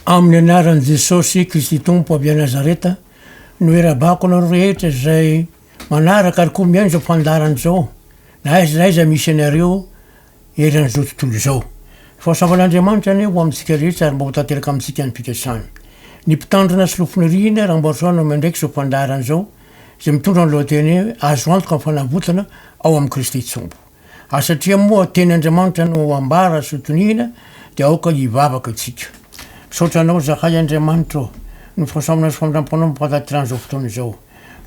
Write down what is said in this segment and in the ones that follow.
Amin'ny anaran'i Jesosy Kristy Tompo avy any Nazareta no irabako anareo rehetra izay manaraka ary koa mihaino izao fandaharana izao na aiza na aiza misy anareo eran'izao tontolo izao. Ny fahasoavan'Andriamanitra anie ho amintsika rehetra ary mba ho tanteraka amintsika ny fikasany. Ny mpitandrina sy lofoniriana Rambarisoa no miandraika izao fandaharana izao izay mitondra ny lohateny hoe Azo antoka ny fanavotana ao amin'i Kristy Tompo. Ary satria moa teny Andriamanitra no ambara sy ho toniana dia aoka hivavaka isika. Misaotra Anao zahay Andriamanitra ô, noho fahasoavana sy famindram-ponao mampahatatirana izao fotoana izao.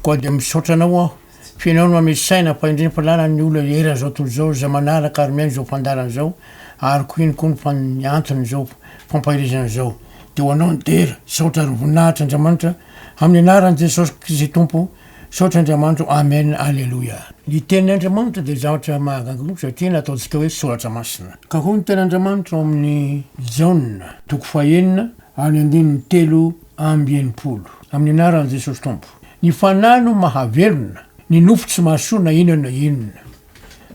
Koa dia misaotra Anao aho, fa Ianao no hanome saina fa indrindra fa lalana ny olona eran'izao tontolo izao izay manaraka ary miaina izao fandaharana izao ary koa iny koa ny fan ny anton'izao fampaherezana izao. Dia ho Anao ny dera. Misaotra ary voninahitra Andriamanitra, amin'ny anaran'i Jesosy Kristy Tompo. Misaotra Andriamanitro Amen Aleloia Ny tenin Andriamanitra dia zavatra mahagaga satria nataontsika hoe soratra masina Ka hoy ny teny Andriamanitra ao amin'ny Jaona toko faha enina ary ny andininy telo amby enimpolo Amin'ny anaran'i Jesosy Tompo Ny fanahy no mahavelona Ny nofo tsy mahasoa na inona na inona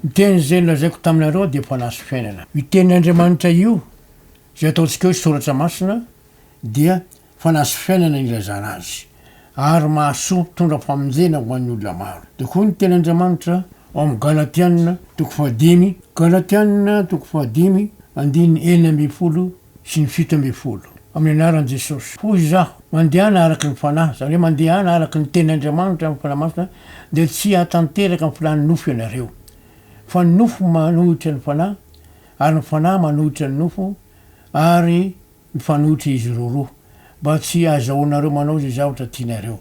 Ny teny izay nolazaiko taminareo dia fanahy sy fiainana Io tenin Andriamanitra io izay ataontsika hoe soratra masina dia fanaso fiainana ny ilazana azy, ary mahasoa mpitondra famonjena ho an'ny olona maro. Dia hoy ny Tenin'Andriamanitra ao amin'ny Galatiana toko fahadimy, Galatiana toko fahadimy andininy enina ambin'ny folo sy ny fito ambin'ny folo, Amin'ny anaran'i Jesosy, hoy izaho, mandehana araka ny fanahy, izany hoe mandehana araka ny Tenin'Andriamanitra amin'ny fanahy masina, dia tsy hahatanteraka ny filàn'ny nofo ianareo. Fa ny nofo manohitra ny fanahy, ary ny fanahy manohitra ny nofo, ary. Mifanohitra izy roroa, mba tsy hahazahoanareo manao izay zavatra tianareo.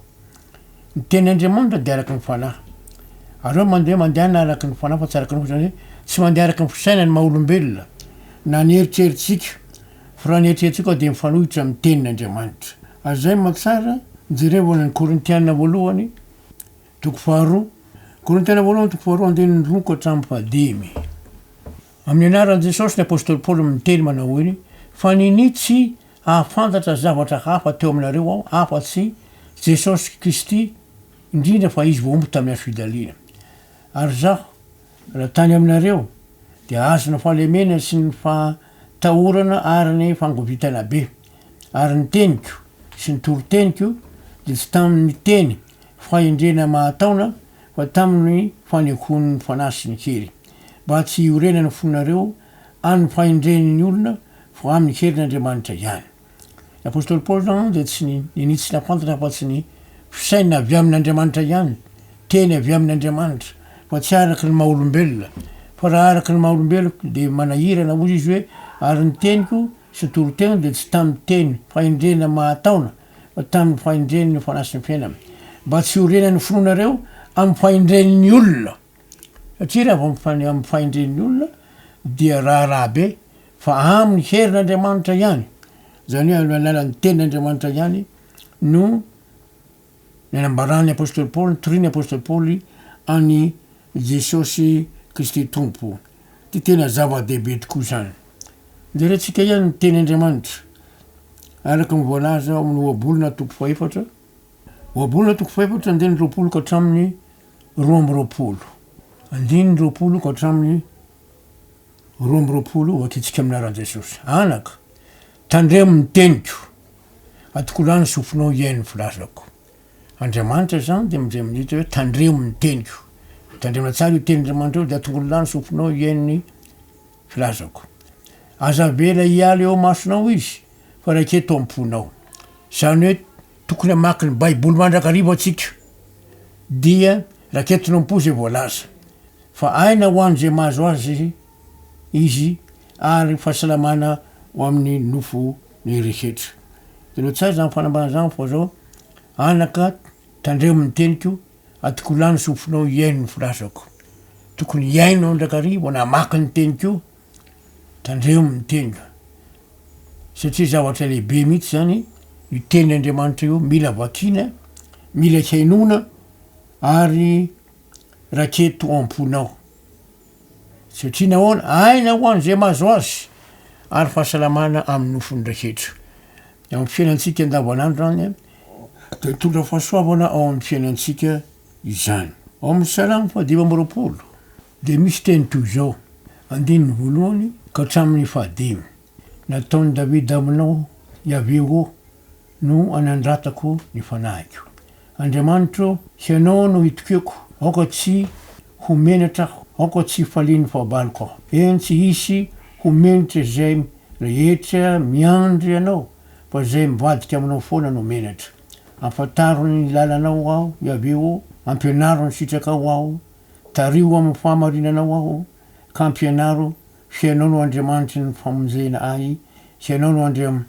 Ny Teny Andriamanitra dia araka ny Fanahy. Ary hoe mandeha mandehana araka ny Fanahy fa tsy araka ny fo, izany hoe tsy mandeha araka ny fisainana ny maha-olombelona, na ny eritreritsika, fa raha ny eritreritsika koa dia mifanohitra amin'ny Tenin' Andriamanitra. Ary izay mamaky tsara, jerevo any amin'ny Korintiana voalohany, toko faharoa, Korintiana voalohany, toko faharoa, andininy roa ka hatramin'ny fahadimy. Amin'ny anaran'i Jesosy ny apostoly Paoly miteny manao hoe, Fa ninia tsy hahafantatra zavatra hafa teo aminareo aho afa-tsy Jesosy Kristy, indrindra fa Izy voaomby tamin'ny hazofijaliana. Ary izaho, raha tany aminareo, dia azona fahalemena sy ny fahatahorana ary ny fangovitana be. Ary ny teniko sy ny toriteniko dia tsy tamin'ny teny fahendrena mahataona fa tamin'ny fanehoan'ny Fanahy sy ny hery. mba tsy hiorenan' ny fonareo amin' ny fahendren' ny olona fa amin' ny herin' Andriamanitra ihany. Ny apostoly Paoly izany dia tsy ninitsy nafantatra afa-tsy ny fisainana avy amin' Andriamanitra ihany, teny avy amin' Andriamanitra, fa tsy araka ny maha olombelona. Fa raha araka ny maha olombeloko dia manahirana, hoy izy hoe, ary ny teniko sy toriteny dia tsy tamin' teny fahendrena mahataona, fa tamin' ny fahendren' ny Fanahy sy ny Fiainana, mba tsy hiorenan' ny finoanareo amin' ny fahendren' ny olona. Satria raha vao mifan- amin'ny fahendren'ny olona dia raharaha be, fa amin'ny herin'Andriamanitra ihany, izany hoe amin'ny alalan'ny tenin'Andriamanitra ihany no nanambaran'ny apostoly Paoly, notorian'ny apostoly Paoly an'i Jesosy Kristy Tompo. Dia tena zava-dehibe tokoa izany. Jerentsika ihany ny tenin'Andriamanitra, araka ny voalaza ao amin'ny ohabolana toko fahaefatra, Ohabolana toko fahefatra andininy roapolo ka hatramin'ny roa amby roapolo. Andininy roapolo ka hatramin'ny roa amby roapolo, Vakitsika amin'ny anaran'i Jesosy. Anaka, tandremo ny teniko. Atokolano ny sofinao hihaino ny filazako. Andriamanitra izany dia midre midika hoe tandremo ny teniko. Tandremana tsara io tenin'Andriamanitra io dia atongolano ny sofinao hihaino ny Filazako. Aza avela hiala eo amasonao izy fa raika eto am-ponao. Izany hoe tokony hamaky ny Baiboly mandrakariva antsika, dia raketinao am-po izay voalaza. Fa aina ho an'izay mahazo azy izy ary fahasalamana ho amin'ny nofo ny rehetra. Ianao tsara izany fanambarana izany fa izao, Anaka, tandremo ny teniko, Adoko lany sofinao hihaino ny filazako. Tokony hihaino aho ndrakary vao namaky ny teniko io. Tandremo ny teniko. Satria zavatra lehibe mihitsy zany io tenin' Andriamanitra io mila vakiana, mila hihainoana ary raketo am-ponao. Satria nahoana? Aina ho an'izay mahazo azy ary fahasalamana amin'ny nofony raketo. Eo amin'ny fiainantsika andavanandro any dia mitondra fahasoavana ao amin'ny fiainantsika izany. Ao amin'ny Salamo fahadimy amby roapolo dia misy teny toy izao, andininy voalohany ka hatramin'ny fahadimy, Nataon'i Davida aminao, Iaveh ô, no anandratako ny fanahiko. Andriamanitra ô, Hianao no itokiako, aoka tsy ho menatra aho, aoka tsy hifalian'ny fahabaloko aho. Eny, tsy hisy ho menatra izay rehetra miandry Anao, fa izay mivadika Aminao foana no menatra. Afantaro ny lalanao aho, Iaveh ô, ampianaro ny sitrakao aho, tariho amin'ny fahamarinanao aho, ka ampianaro Fa Ianao no Andriamanitry ny famonjena ahy, sy Ianao no Andriam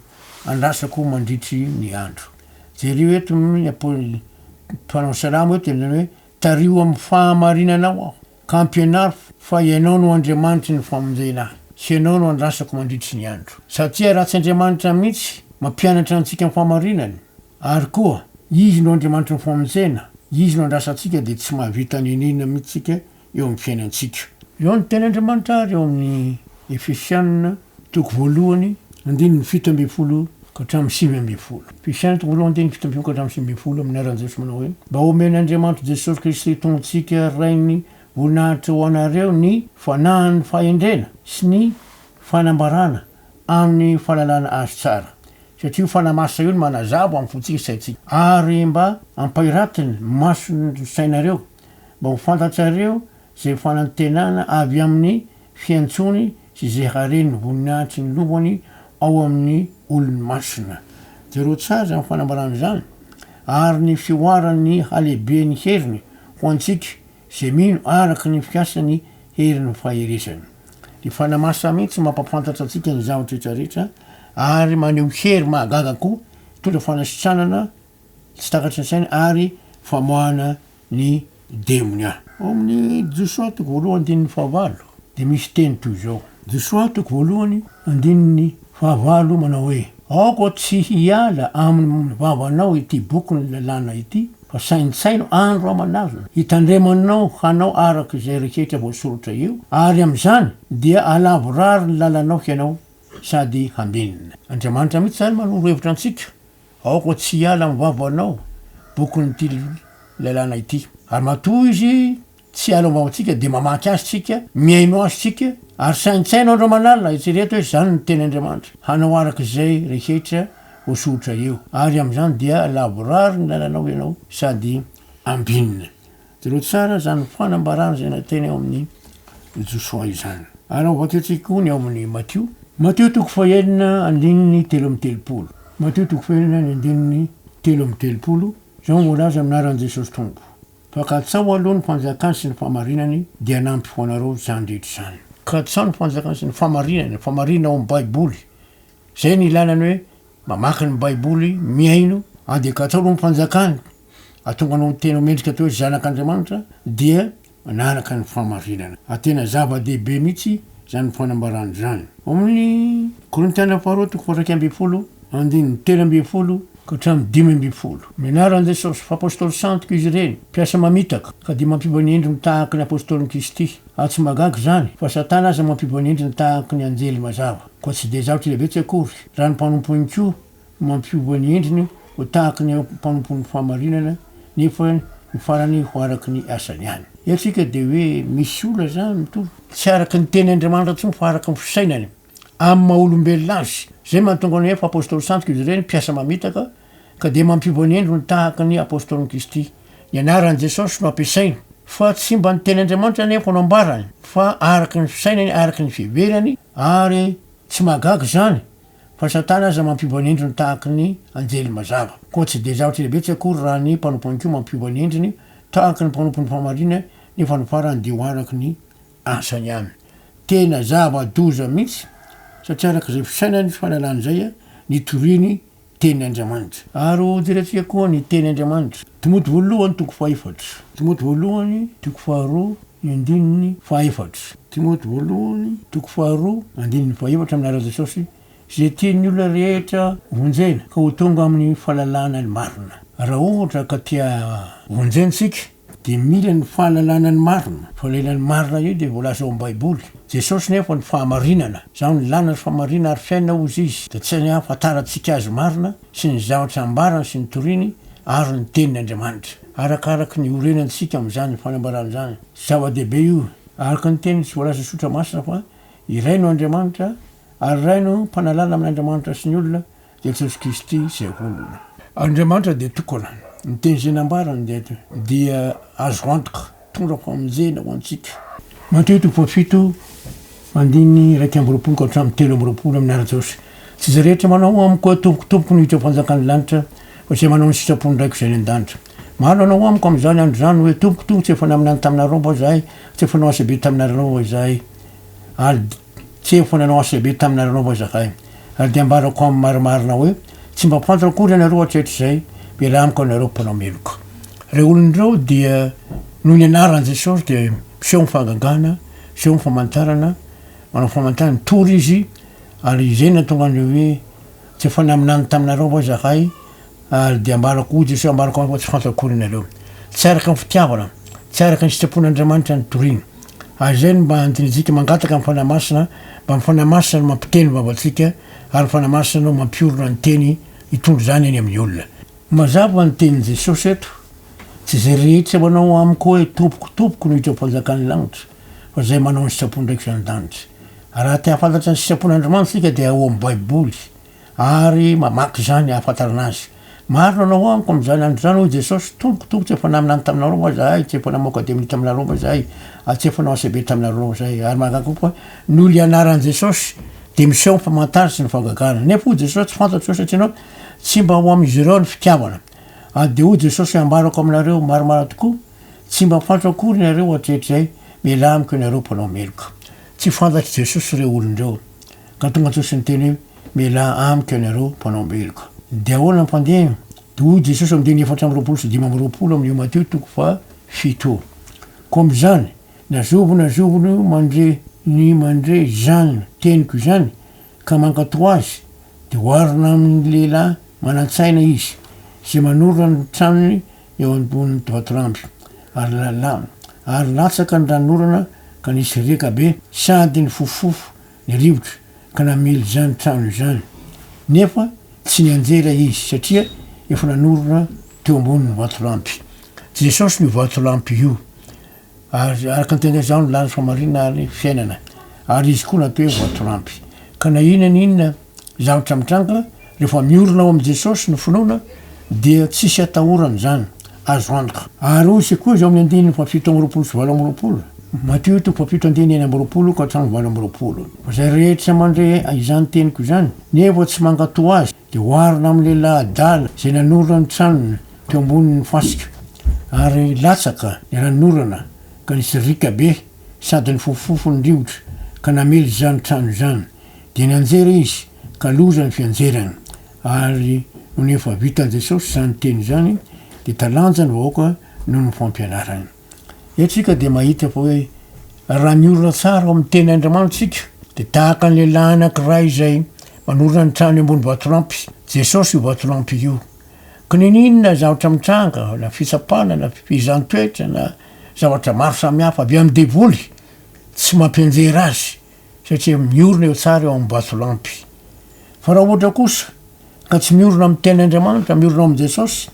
andrasako mandritry ny andro. Jereo eto ny apoly mpanao salamo eto ny hoe, Tariho amin'ny fahamarinanao aho, ka ampianaro fa Ianao no Andriamanitry ny famonjena ahy, sy Ianao no andrasako mandritry ny andro. Satria raha tsy Andriamanitra mihitsy mampianatra antsika ny fahamarinany, ary koa Izy no Andriamanitry ny famonjena, Izy no andrasantsika, dia tsy mahavita n'inon'inona mihitsy isika eo amin'ny fiainantsika. Eo ny tenin'Andriamanitra ary ao amin'ny Efesiana toko voalohany andininy fito ambin'ny folo ka hatramin'ny sivy ambin'ny folo. Efesiana toko voalohany andininy fito ambin'ny folo ka hatramin'ny sivy ambin'ny folo amin'ny anaran'i Jesoa manao hoe, Mba homen'Andriamanitry Jesosy Kristy Tompontsika Rain'ny voninahitra ho anareo ny fanahin'ny fahendrena sy ny fanambarana amin'ny fahalalana Azy tsara. Satria io fanahy masina io no manazava amin'ny fontsika sy saintsika ary mba hampahiratiny ny mason'ny sainareo mba ho fantatrareo izay fanantenana avy amin'ny fiantsony sy izay haren'ny voninahitry ny Lombony ao amin'ny olony masina. Jereo tsara izany fanambarana izany, ary ny fihoaran'ny halehiben'ny heriny ho antsika izay mino araka ny fiasan'ny herin'ny faherezany. Ny Fanahy Masina mihitsy mampahafantatra antsika ny zavatra rehetra rehetra ary maneho hery mahagaga koa, mitondra fanasitranana tsy takatry ny sainy ary famoahana ny demonia. Ao amin'ny Josoa toko voalohany andininy fahavalo dia misy teny toy izao, Josoa toko voalohany andininy fahavalo manao hoe, Aoka tsy hiala amin'ny vavanao ity bokin'ny lalàna ity, fa saintsaino andro aman'alina hitandremanao hanao araka izay rehetra voasoratra eo, ary amin'izany dia halavorary ny lalanao hianao sady hambenona. Andriamanitra mihitsy izany manoro hevitra antsika Aoka tsy hiala amin'ny vavanao bokin'ity lalàna ity. Ary matoa izy tsy hiala ao am-bavantsika, dia mamaky azy isika, mihaino azy isika, ary saintsaino andro aman'alina, eritrereto hoe izany no teny Andriamanitra, hanao araka izay rehetra voasoritra eo, ary amin'izany dia lavorary ny lalanao ianao sady ambinina. Jereo tsara izany fanambarana izay nateny ao amin'ny Josoa izany. Ary ao vakiantsika koa ny ao amin'ny Matio. Matio toko fahenina andininy telo amby telopolo. Matio toko fahenina ny andininy telo amby telopolo, izao no voalaza amin'ny anaran'i Jesosy Tompo, Fa katsaho aloha ny fanjakany sy ny fahamarinany, dia hanampy ho anareo izany rehetra izany. Katsaho ny fanjakany sy ny fahamarinany, ny fahamarinana ao amin'ny Baiboly. Zay no ilana ny hoe mamaky ny baiboly, mihaino, ande ka ataonao ny fanjakany, atonga anao tena ho mendrika atao hoe zanak' Andriamanitra dia manaraka ny fahamarinana. Ary tena zava dehibe mihitsy zany fanambarana zany. Ao amin' ny Korintiana faharoa toko faha-iraika ambin'ny folo andininy telo ambin'ny folo ka hatramin'ny dimy ambin'ny folo. Ny anaran' Jesosy, fa Apôstôly santok' izy ireny, mpiasa mamitaka, ka dia mampiova ny endriny tahaka ny Apôstôlin' Kristy, ary tsy mahagaga izany, fa Satana aza mampiova ny endriny tahaka ny anjely mazava. Koa tsy dia zavatra hevetsy akory raha ny mpanompon'i Koa no mampiova ny endriny ho tahaka ny mpanompon'ny fahamarinana nefa ny farany ho araka ny asany ihany. Eto isika dia hoe misy olona izany mitovy. Tsy araka ny teny Andriamanitra intsony fa araka ny fisainany amin'ny maha olombelona azy. Izay mahatonga ny hoe efa apostoly sandoka izy ireny, mpiasa mamitaka, Ka dia mampibonendro ny tahaka ny Apôstôlin'i Kristy. Ny anaran'i Jesôsy no ampiasainy, fa tsy mba ny Tenin'Andriamanitra anefa no ambarany, fa araka ny fisainany, araka ny fiheverany, ary tsy mahagaga izany fa Satana aza mampibonendro ny tahaka ny anjely mazava. Koa tsy dia zavatra lehibe tsy akory raha ny mpanompony koa mampibonendry ny tahaka ny mpanompon'ny fahamarinana, nefa ny farany dia ho araka ny asany ihany. Tena zava-doza mihitsy, satria araka izay fisainany sy fahalalany izay nitoriany Teny Andriamanitra. Ary ho diratsika koa ny Teny Andriamanitra. Timoty Voalohany toko fahefatra. Timoty Voalohany toko faharoa ny andininy fahefatra. Timoty Voalohany toko faharoa andininy fahefatra Amin'ny alalan'i Jesosy, izay tian'ny olona rehetra vonjena ka ho tonga amin'ny fahalalana ny marina. Raha ohatra ka te-havonjena isika, Dia mila ny fahalalana ny marina. Fa ilay ny marina io dia voalaza ao amin'ny Baiboly. Jesosy nefa ny fahamarinana. Izaho no lalana sy fahamarinana ary fiainana hoy izy. Dia tsy any ahafantarantsika azy marina sy ny zavatra ambarany sy ny toriny ary ny tenin' Andriamanitra. Arakaraka ny orenantsika amin'izany fanambarana izany. Zava-dehibe io. Araka ny teny sy voalazan'ny Soratra Masina fa iray no Andriamanitra ary iray no mpanalala amin' Andriamanitra sy ny olona. Jesosy Kristy izay olona. Andriamanitra dia tokana. Ny teny izay nambarany dia dia azo antoka, mitondra famonjena ho antsika. Mateo toko fahafito andininy iraika amby roapolo ka hatramin'ny telo amby roapolo amin'ny ara-Jiosy, Tsy izay rehetra manao amiko hoe Tompoko, Tompoko no hiditra ao am-panjakan'ny lanitra, fa izay manao ny sitrapon'ny Raiko izay any an-danitra. Maro hanao amiko amin'izany andro izany hoe, Tompoko, Tompoko, tsy efa naminany taminareo va izahay, tsy efa nanao asa be taminareo va izahay? Al. Tsy efa nanao asa be taminareo anao va izahay? Ary dia ambarako amin'ny marimarina hoe, tsy mba fantatra akory ianareo hatrehatr'izay, mialà amiko ianareo mpanao meloka. Ireo olona ireo dia noho ny anaran'i Jesosy dia miseho amin'ny fahagagana, miseho amin'ny famantarana, manao famantarana, mitory izy, ary izay no nahatonga an'ireo hoe, Tsy efa naminany taminareo va izahay, ary dia ambarako, hoy Jesoa, ambarako amiko fa tsy fantako akory ianareo. Tsy araka ny fitiavana, tsy araka ny sitrapon'Andriamanitra ny torina. Ary izay no mba andinitsika mangataka ny Fanahy Masina, mba ny Fanahy Masina no mampiteny ny vavantsika, ary ny Fanahy Masina no mampiorina ny teny hitondra izany eny amin'ny olona. Mazava ny tenin'i Jesosy eto, Tsy izay rehetra manao amiko hoe, Tompoko, Tompoko no hiditra ao am-panjakan'ny lanitra, fa izay manao ny sitrapon'Andraikitra any an-danitra. Raha te hahafantatra ny sitrapon'Andriamanitra isika dia ao amin'ny Baiboly ary mamaky izany hahafantarana azy. Marina anao amiko amin'izany andro izany hoy Jesosy, Tompoko, tompoko tsy efa naminany taminareo va izahay? Tsy efa namoaka demonia taminareo va izahay? Ary tsy efa nanao asa be taminareo va izahay? Ary mahagaga kokoa, noho ilay anaran'i Jesosy dia miseho ny famantarana sy ny fahagagana. Nefa hoy Jesosy, Tsy fantatro ireo satria ianao tsy mba ao amin'izy ireo ny fitiavana. Ary dia hoy Jesosy hoe, Ambarako aminareo, maromaro tokoa, Tsy mba fantatro akory nareo hatretr'izay, mialà amiko ianareo mpanao meloka. Tsy fantatr'i Jesosy ireo olona ireo. Ka tonga Jesosy niteny hoe, mialà amiko ianareo mpanao meloka. Dia ahoana ny fandehany? Dia hoy Jesosy amin'ny andininy efatra amby roapolo sy dimy amby roapolo amin'io Mateo toko faha fito io, Koa amin'izany, na zovy na zovy no mandre ny mandre izany teniko izany, ka mankatò azy, dia oharina amin'ny lehilahy manan-tsaina izy, izay manorina ny tranony eo ambonin'ny toatramby, ary lala, ary latsaka ny ranon'orana ka nisy riaka be, sady nifofofofo ny rivotra ka namely izany trano izany, nefa tsy nianjera ilay izy, satria efa nanorina teo ambonin'ny vatolampy. Jesosy no vatolampy io. Ary araka ny tena izaho no lany famarinana ary fiainana, ary izy koa natao hoe voatorampy. Ka na inona na inona zavatra mitranga, rehefa miorina ao amin'i Jesosy ny finoana, dia tsisy atahorana izany. Azo antoka. Ary hoy Isika koa izao amin'ny andininy fahafito amby roapolo sy valo amby roapolo, Matio toko fahafito andininy enina amby roapolo ka hatramin'ny valo amby roapolo, Fa izay rehetra mandre izany teniko izany, nefa tsy mankatò azy, dia ho arona amin'ny lehilahy adala izay nanorina ny tranony, teo ambonin'ny fasika, ary latsaka ny ranon'orana ka nisy riaka be sady nifofofofo ny rivotra ka namely izany trano izany, dia nianjera izy ka loza ny fianjerany, ary nony efa vitan'i Jesosy izany teny izany dia talanja ny vahoaka noho ny fampianarany. Eo tsika dia mahita fa hoe raha miorina tsara ao amin'ny tena Andriamanitra tsika dia tahaka ny lehilahy anankiray izay manorina ny trano eo ambony vatolampy. Jesosy io vatolampy io. Ka niniana zavatra mitranga na fitsapana na fifehezan-toetra na zavatra maro samihafa avy amin'ny devoly tsy mampianjera azy. satria miorina eo tsara eo amin'ny vatolampy. Fa raha ohatra kosa ka tsy miorina amin'ny tenin'Andriamanitra, miorina ao amin'i Jesosy,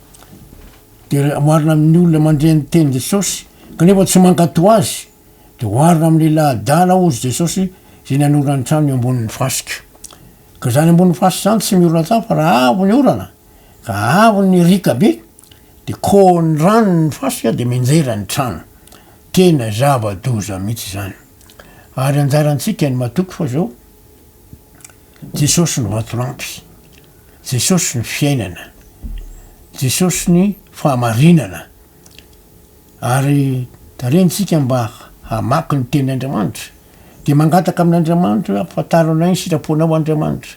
dia oharina amin'ny olona mandre ny tenin'i Jesosy, kanefa tsy mankatò azy, dia oharina amin'ny laha-dala, hozy Jesosy, izay nanora ny trano eo ambonin'ny fasika. Ka izany ambonin'ny fasika izany tsy miorina tsara fa raha avy ny orana, ka avy ny riaka be, De koa ny rano ny fasika de mianjera ny trano. Tena zava doza mihitsy izany. Ary anjarantsika ny matoky fa zao Jesosy no vatolampy, Jesosy ny fiainana, Jesosy ny fahamarinana. Ary tarehintsika mba hamaky ny teny Andriamanitra. De mangataka amin Andriamanitra hoe ampafantarinao ny sitraponao Andriamanitra.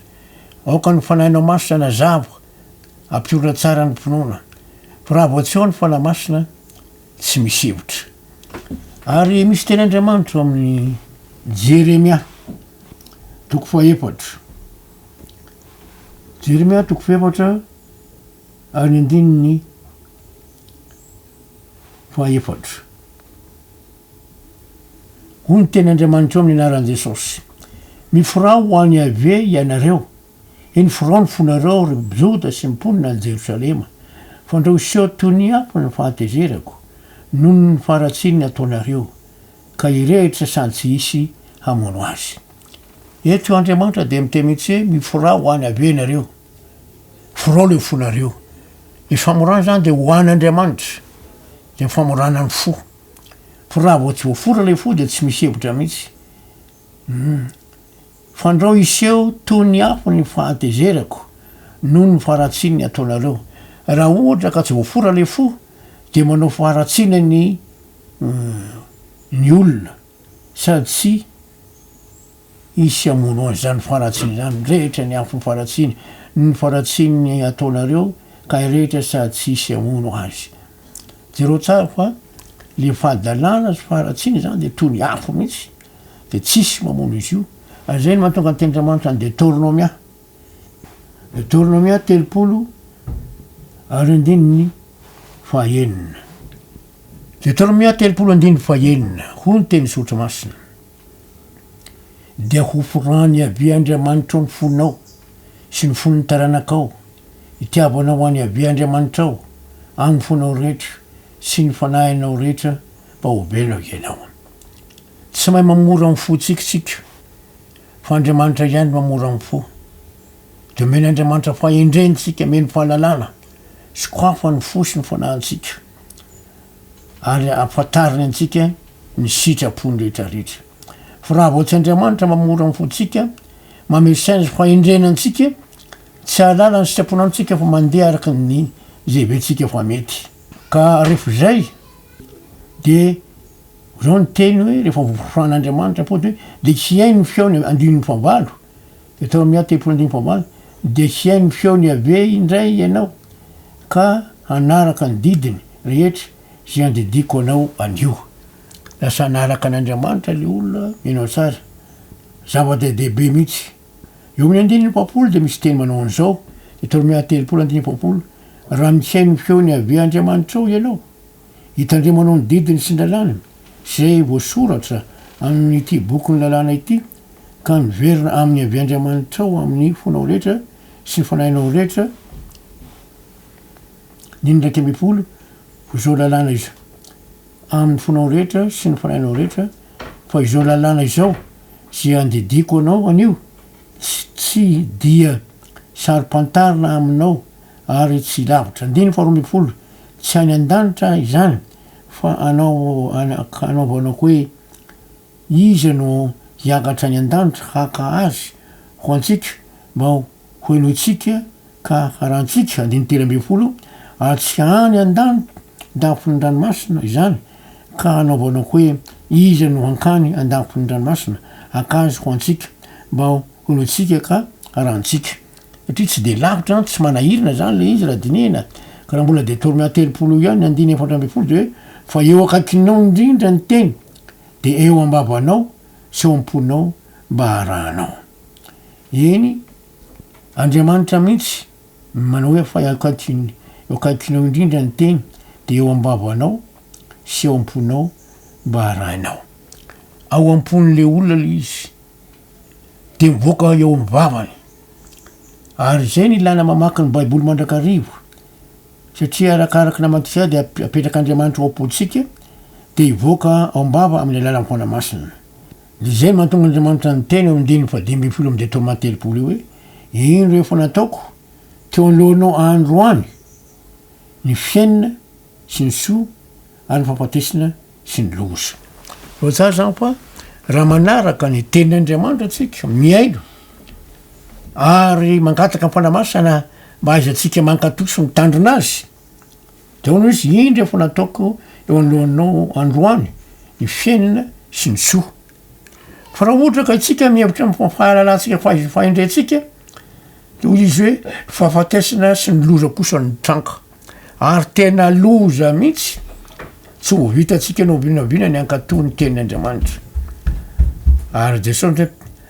Aoka ny fanahinao maso tsy hanazava. Ampiorina tsara ny finoana. Fa raha vao tsy ao ny Fanahy Masina, tsy misy hevitra. Ary misy teny Andriamanitra ao amin'ny Jeremia, toko fahefatra. Jeremia toko fahefatra ary ny andininy fahefatra. Hoy ny teny Andriamanitra ao amin'ny anaran'i Jesosy. Miforao ho an'i Yaveh ianareo. Inoforan ny fonareo, ry Joda sy ny mponina any Jerosalema, fa ndra hoseho toy ny ampy ny fahatezerako noho ny faharatsian ny ataonareo, ka hirehitra sady tsy hisy hamono azy. Eto io Andriamanitra dia miteny mihitsy hoe miforà ho an Yaveh ianareo. Forao ilay fonareo. Ny famorana izany dia ho an Andriamanitra. Dia ny famorana ny fo. Fa raha vao tsy voafora ilay fo dia tsy misy hevitra mihitsy. Humm. Fandrao hiseho toy ny afo ny fahatezerako noho ny faharatsiany ataonareo. Raha ohatra ka tsy voafora ilay fo dia manao faharatsiana ny ny olona sady tsy hisy hamono azy izany faharatsiana izany. Mirehitra ny afon'ny faharatsiany noho ny faharatsiany ataonareo ka hirehitra sady tsy hisy hamono azy. Jereo tsara fa ilay fahadalana sy faharatsiana izany dia toy ny afo mihitsy. dia tsisy mamono izy io ary izay no mahatonga ny tenin-dRamanitra ny Detornomia, Detornomia telopolo ary andininy fahaenina, Detornomia telopolo andininy fahaenina, hoy ny tenin'ny Soratra Masina, dia hoforany Yaveh Andriamanitrao ny fonao sy ny fon'ny taranakao, hitiavanao an'i Yaveh Andriamanitrao amin'ny fonao rehetra sy ny fanahinao rehetra mba ho velona ianao. Tsy mahay mamora ny fontsika isika fa Andriamanitra ihany no mamora ny fo. Dia omeny Andriamanitra fahendrena isika, omeny fahalalana, sokafa ny fo sy ny fanahintsika ary ampatariny antsika ny sitrapony rehetra rehetra. Fa raha vao tsy Andriamanitra mamora ny fontsika, mamehy saina fahendrena antsika, tsy ahalala ny sitrapony amintsika fa mandeha araka ny izay heverentsika fa mety. Ka rehefa izay dia. Izao ny teny hoe rehefa voafoan' Andriamanitra apoty hoe dia tsy hay ny feo ny andininy fahavalo, Deoteronomia telopolo andininy fahavalo, dia tsy hay ny feon' Iaveh indray ianao, ka hanaraka ny didiny rehetra izay andidiako anao anio. Lasa hanaraka an' Andriamanitra ilay olona, mino aho tsara. Zava-dehibe mihitsy. Eo amin' ny andininy efapolo dia misy teny manao an' izao, Deoteronomia telopolo andininy efapolo, Raha mitsihay ny feon' Iaveh Andriamanitrao ianao, Hitandremanao ny didiny sy ny lalàny izay voasoratra amin'ity bokin'ny lalàna ity, ka miverina aminy avy Andriamanitrao amin'ny fonao rehetra sy ny fanahinao rehetra ny ny iraika ambin'ny folo izao lalàna iz amin'ny fonao rehetra sy ny fanahinao rehetra fa izao lalàna izao izay andidiako anao anio tsy tsy dia saro-pantarina aminao Ary tsy lavitra. Andininy faharoa ambin'ny folo, Tsy any an-danitra izany, fa anao anaovanako hoe iza no hiakatra any an-danitra haka azy ho antsika mba hohenointsika ka harantsika, andininy telo ambin'ny folo, Ary tsy any an-dafin'ny ranomasina izany, ka anaovanako hoe iza no hankany an-dafin'ny ranomasina haka azy ho antsika mba hohenointsika ka harantsika. satria tsy dia lavitra an, tsy manahirana zany le izy raha dinihina, ka raha mbola detorme telopolo ihany ny andininy efatra ambin'ny folo dia hoe fa eo akaikinao indrindra ny teny dia eo ambavanao sy eo am-ponao mba harahanao eny Andriamanitra mihitsy no manao hoe fa eo akaikiny eo akaikinao indrindra ny teny dia eo ambavanao sy eo am-ponao mba harahinao ao am-pon'le olona le izy dia mivoaka eo amin'ny vavany. Ary izay no ilàna mamaky ny Baiboly mandrakariva, satria arakaraka ny namantsika dia apetrak'Andriamanitra ao am-pontsika, dia hivoaka ao am-bava amin'ny alalan'ny Fanahy Masina. Dia izay no mahatonga Andriamanitra niteny ao amin'ny andininy fahadimy ambin'ny folo amin'ny Detorma telopolo io hoe, Indro efa nataoko teo anoloanao androany ny fiainana, sy ny soa ary ny fahafatesana sy ny loza. Voajanahary izany fa raha manaraka ny tenin' Andriamanitra isika, mihaino ary mangataka ny Fanahy Masina mba hahaizantsika mankato sy mitandrina Azy, dia hoy Izy, Indro efa nataoko eo anoloanao androany ny fiainana sy ny soa. Fa raha ohatra ka isika mihevitra ny fahalalantsika fa efa indray antsika, dia hoy Izy hoe, Fahafatesana sy ny loza kosa no mitranga. Ary tena loza mihitsy, tsy ho vitantsika na oviana na oviana ny hankatò ny Tenin' Andriamanitra. Ary Jesosy ohatra,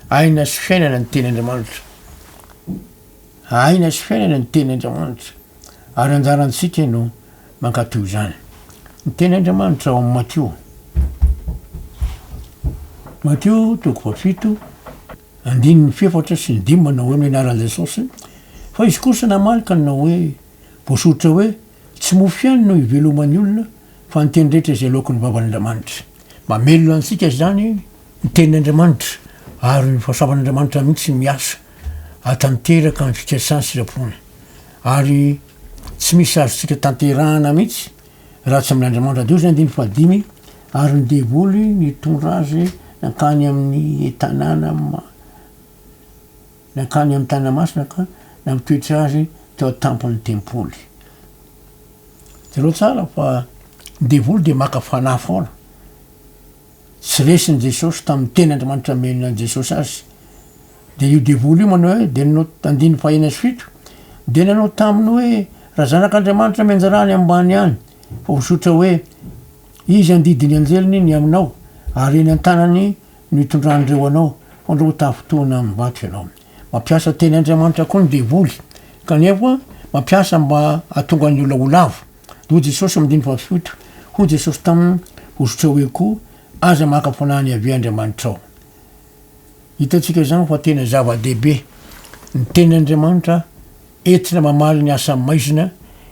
aina sy fiainana ny Tenin' Andriamanitra. Aina sy fiainana ny Tenin' Andriamanitra. Ary anjarantsika no mankatò izany. Ny Tenin' Andriamanitra ao amin'ny Matio. Matio toko fahafito, andininy fefatra sy ny dimy manao hoe, ny anaran'i Jesosy, fa izy kosa namaly ka nanao hoe, Voasoritra hoe, Tsy mofo ihany no iveloman'ny olona, fa ny teny rehetra izay loaky ny vavan'Andriamanitra. Mamelona antsika izany ny Tenin'Andriamanitra, ary ny fahasoavan'Andriamanitra mihitsy no miasa hahatanteraka ny fikasany sitrapony. Ary tsy misy azontsika tanterahana mihitsy raha tsy amin'Andriamanitra. Diozy andininy fahadimy Ary ny devoly nitondra azy nankany amin'ny tanàna. Nankany amin'ny Tanamasina ka nampitoetra azy teo an-tampon'ny tempoly. Jereo tsara fa ny devoly dia maka fanahy foana. Tsy resin'i Jesosy tamin'ny teny Andriamanitra nomenina an'i Jesosy azy. Dia io devoly io manao hoe, dia nanao, andininy fahenina sy fito, dia nanao taminy hoe, Raha zanak'Andriamanitra mianjaraha any ambany any, fa hozotra hoe, Izy handidy ny anjeliny ny aminao, ary eny an-tanany, no hitondran'ireo anao, fa ndao tafintohina amin'ny vato ianao. Mampiasa teny Andriamanitra koa ny devoly, kanefa mampiasa mba hahatonga ny olona ho lavo. Hoy Jesosy amin'ny andininy fahafito, Hoy Jesosy taminy, Hozotrao eo koa, aza maka fanahy ny Yaveh Andriamanitrao. Hitantsika izany fa tena zava-dehibe ny teny Andriamanitra entina mamaly ny asa maizina,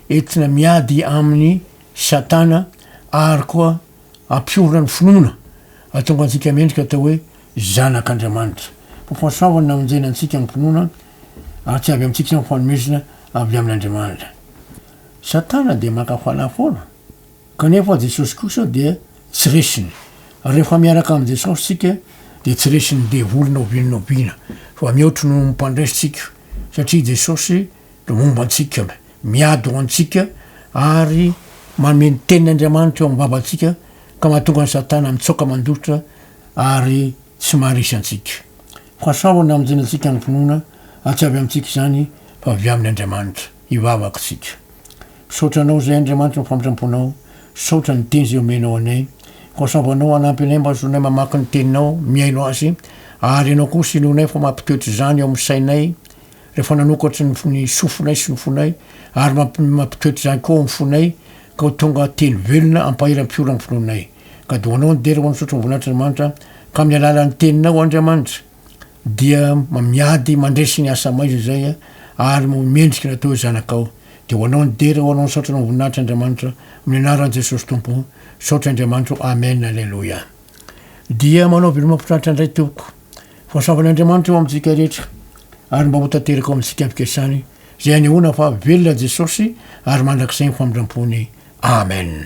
entina miady amin'ny Satana ary koa, Ampiorina ny finoana, hahatonga antsika mendrika atao hoe zanak' Andriamanitra. Koa fahasoavany na onjena antsika ny finoana, ary tsy avy amintsika izany fa fanomezana avy amin' Andriamanitra. Satana dia maka fanahy foana, kanefa Jesosy kosa dia tsy resiny. Rehefa miaraka amin'i Jesosy isika dia tsy resin'ny devoly na oviana na oviana, fa mihoatry noho ny mpandresy tsika, satria Jesosy Momba antsika, miady ho antsika, ary mameno tena Andriamanitra eo am-bavantsika, ka mahatonga an'i Satana mitsaoka mandositra ary tsy maharesy antsika. Fasao ny hamonjenantsika ny finoana, ary tsy avy amintsika izany, fa avy amin' Andriamanitra. Hivavaka isika. Misaotra Anao izay, Andriamanitra, amin'ny famitram-ponao. Misaotra ny Teny izay omenao anay. Fasao Anao hanampy anay mba hahazoanay mamaky ny Teninao, mihaino azy, ary Ianao kosa hinoanay fa mampitoetra izany eo amin'ny sainay, rehefa nanokatra ny ny sofinay sy ny fonay, ary mampi mampitoetra izany koa ao amin'ny fonay, ka ho tonga teny velona ampaheram-piora amin'ny finoanay. Ka dia ho anao ny dera, ho an'ny zotro ny voninahitran'Andriamanitra, ka amin'ny alalan'ny teninao, Andriamanitra, dia ma miady mandresy ny asa maiza izay, ary mo mendrika ny atao hoe zanakao. Dia ho anao ny dera, ho anao ny saotra, ho anao ny voninahitra, Andriamanitra, amin'ny anaran'i Jesosy Tompo. Saotra Andriamanitra ô. Amen. Aleloia. Dia manao veloma mpitratra indray tompoko. Voasavan' Andriamanitra eo amintsika rehetra ary mba hotanteraka ao amintsika fikasany izay hanehoana fa velona Jesosy ary mandrakizay ny famindrampony. Amen.